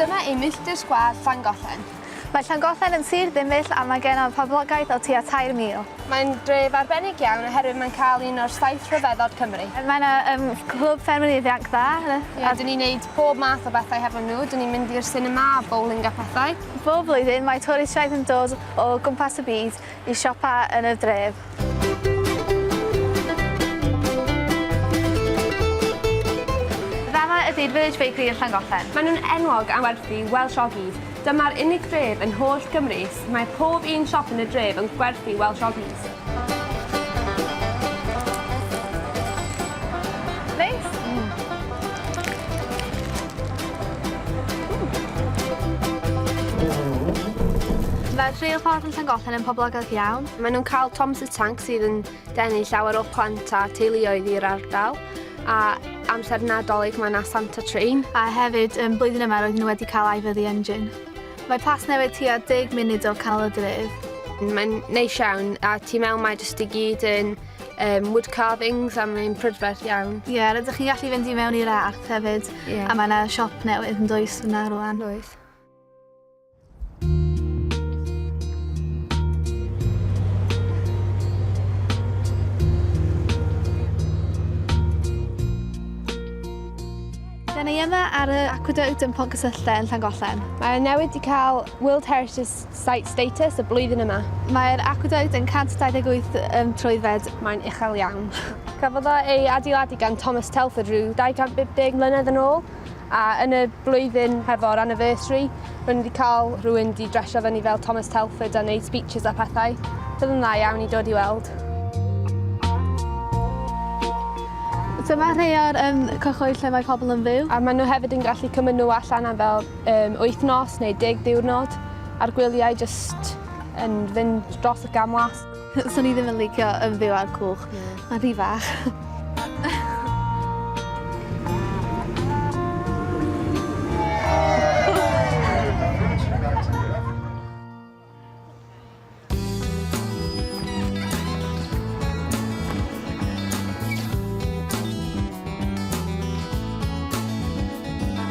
Dyma ein milltir sgwâr Llangollen. Mae Llangollen yn sir ddimmill a mae gennym poblogaeth o tua 3,000. Mae'n dref arbennig iawn oherwydd mae'n cael un o'r saith rhyfeddod Cymru. Mae yna um, clwb ffermydd ifanc dda. Yeah, a... Dyn ni'n neud pob math o bethau hefo nhw. Dyn ni'n mynd i'r sinema a bowling a pethau. Bob blwyddyn mae twristiaid yn dod o gwmpas y byd i siopa yn y dref. Fama ydi'r Village Bakery yn Llangollen. Maen nhw'n enwog am werthu Welsh Oggies. Dyma'r unig dref yn holl Gymru lle mae pob un siop yn y dref yn gwerthu Welsh Oggies. Mae'r rheilffordd yn Llangollen yn poblogaidd iawn. Maen nhw'n cael Tom's y Tank sydd yn denu llawer o plant a teuluoedd i'r ardal a amser nadolig mae yna Santa Train. A hefyd, um, blwyddyn yma roedden nhw wedi cael aifyddu engine. Mae Plasnewydd tua 10 munud o Canol y Dref. Mae'n neis iawn, a ti mewn mae jyst i gyd yn um, wood carvings a mae'n prydferth iawn. Ie, yeah, rydych chi'n gallu fynd i mewn i'r arth hefyd, yeah. a mae yna siop newydd yn dwys yna rwan. Oes. Da ni yma ar y Aqueduct yn Pont Cysylltau yn Llangollen. Mae newid wedi cael World Heritage Site status y blwyddyn yma. Mae'r aqueduct yn 128 um, troedfed. Mae'n uchel iawn. Cafodd ei adeiladu gan Thomas Telford rhyw 250 mlynedd yn ôl a yn y blwyddyn hefo'r anniversary Rwy'n wedi cael rhywun di dresio fyny fel Thomas Telford a wneud speeches a pethau. Bydd yn dda iawn i dod i weld. So mae rhai o'r um, cyhoedd lle mae pobl yn fyw. A maen nhw hefyd yn gallu cymryd nhw allan am fel um, wythnos neu deg diwrnod a'r gwyliau jyst yn fynd dros y gamlas. Swn i ddim yn licio yn fyw ar cwch. Na. Ma'n rhy fach.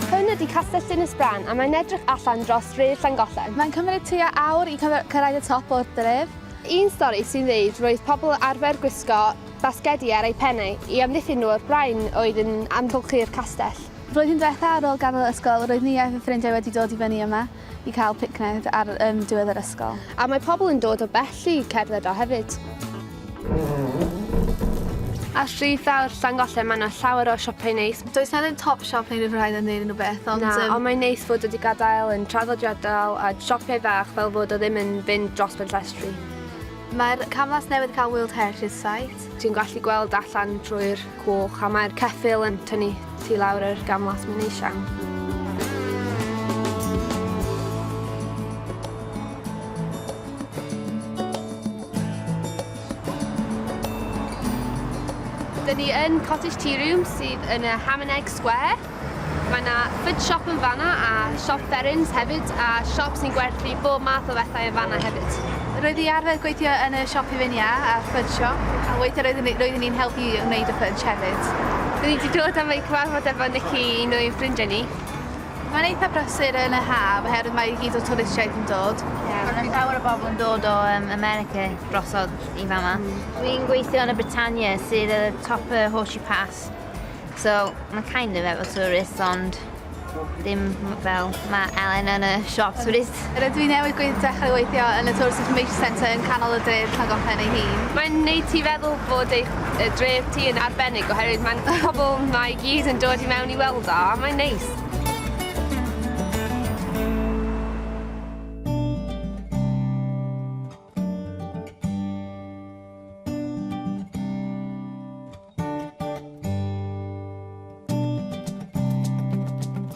Hwn ydi Castell Dinas-bran a mae'n edrych allan dros dref Llangollen. Mae'n cymryd tua awr i cyf- cyrraedd y top o'r dref. Un stori sy'n dweud roedd pobl arfer gwisgo basgedi ar eu pennau i amddiffyn nhw o'r brain oedd yn amgylchu'r castell. Flwyddyn diwetha ar ôl gadael ysgol roedd Nia a fy ffrindiau wedi dod i fyny yma i cael picnic ar um, diwedd yr ysgol. A mae pobl yn dod o bell i cerdded o hefyd. Ar Stryd Fawr Llangollen mae yna llawer o siopau neis, Does na ddim top shop neu ryw raid am wneud unrhyw beth ond yym... Na, ond mae'n neis fod wedi gadael yn traddodiadol a siopiau bach fel fod o ddim yn fynd dros ben llestri. Mae'r camlas newydd cael World Heritage Site. Ti'n gallu gweld allan trwy'r coch a mae'r ceffyl yn tynnu ti lawr yr gamlas mae'n neis iawn. Dyn ni yn Cottage Tea Room sydd yn y Ham and Egg Square. Mae yna food shop yn fanna a siop Berrins hefyd a siop sy'n gwerthu bob math o bethau yn fanna hefyd. Roedd i arfer gweithio yn y siop hufinia a'r food shop a weithiau roeddwn ni'n helpu i wneud y fudge hefyd. Dyn ni wedi dod am ei cyfarfod efo Nikki, un o'i ffrindiau ni. Mae'n eitha brysur yn y haf oherwydd mae i gyd o twristiaid yn dod. Yeah, mae yna llawer o bobl yn dod o um, America drosodd i fama. Mm. Dwi'n gweithio yn y Britannia sydd y top y Horseshoe Pass. So mae'n kind of efo tourists ond ddim fel mae Elen yn y siop touristiaid. Ffrainc. Rydw i newydd gweith dechrau weithio yn y Tourism Information Centre yn canol y dref Llangollen ei hun. Mae'n wneud ti feddwl bod eich dref ti yn arbennig oherwydd mae'n pobl mae i gyd yn dod i mewn i weld o a mae'n neis.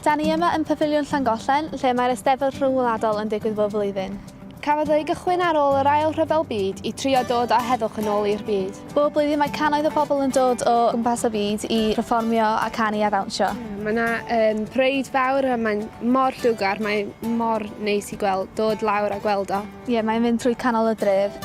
Da ni yma yn Pafiliwn Llangollen, lle mae'r Eisteddfod Rhyngwladol yn digwydd bob blwyddyn. Cafodd ei gychwyn ar ôl yr Ail Rhyfel Byd i trio dod â heddwch yn ôl i'r byd. Bob blwyddyn mae cannoedd o bobl yn dod o gwmpas y byd i pherfformio a canu a ddawnsio. Mae yna um, parade fawr a mae'n mor llwgar, mae mor neis i gweld, dod lawr a gweld o. Ie, mae'n mynd trwy canol y dref.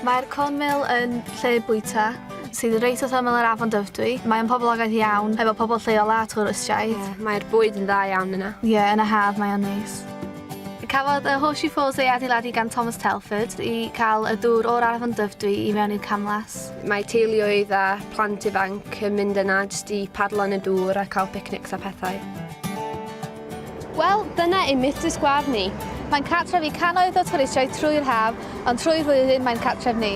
Mae'r Cornmill yn lle bwyta sydd reit wrth ymyl yr afon Dyfrdwy. Mae'n poblogaidd iawn, efo pobl lleol a twristiaid. Mae'r bwyd yn dda iawn yna. Ie, yn y haf mae o'n neis. Cafodd y Horseshoe Falls ei adeiladu gan Thomas Telford i cael y dŵr o'r afon Dyfrdwy i mewn i'r camlas. Mae teuluoedd a plant ifanc yn mynd yna jyst i padlo yn y dŵr a cael picnics a pethau. Wel, dyna ein mitus gwar ni. Mae'n cartref i cannoedd o twristiaid trwy'r haf, ond trwy'r flwyddyn mae'n cartref ni.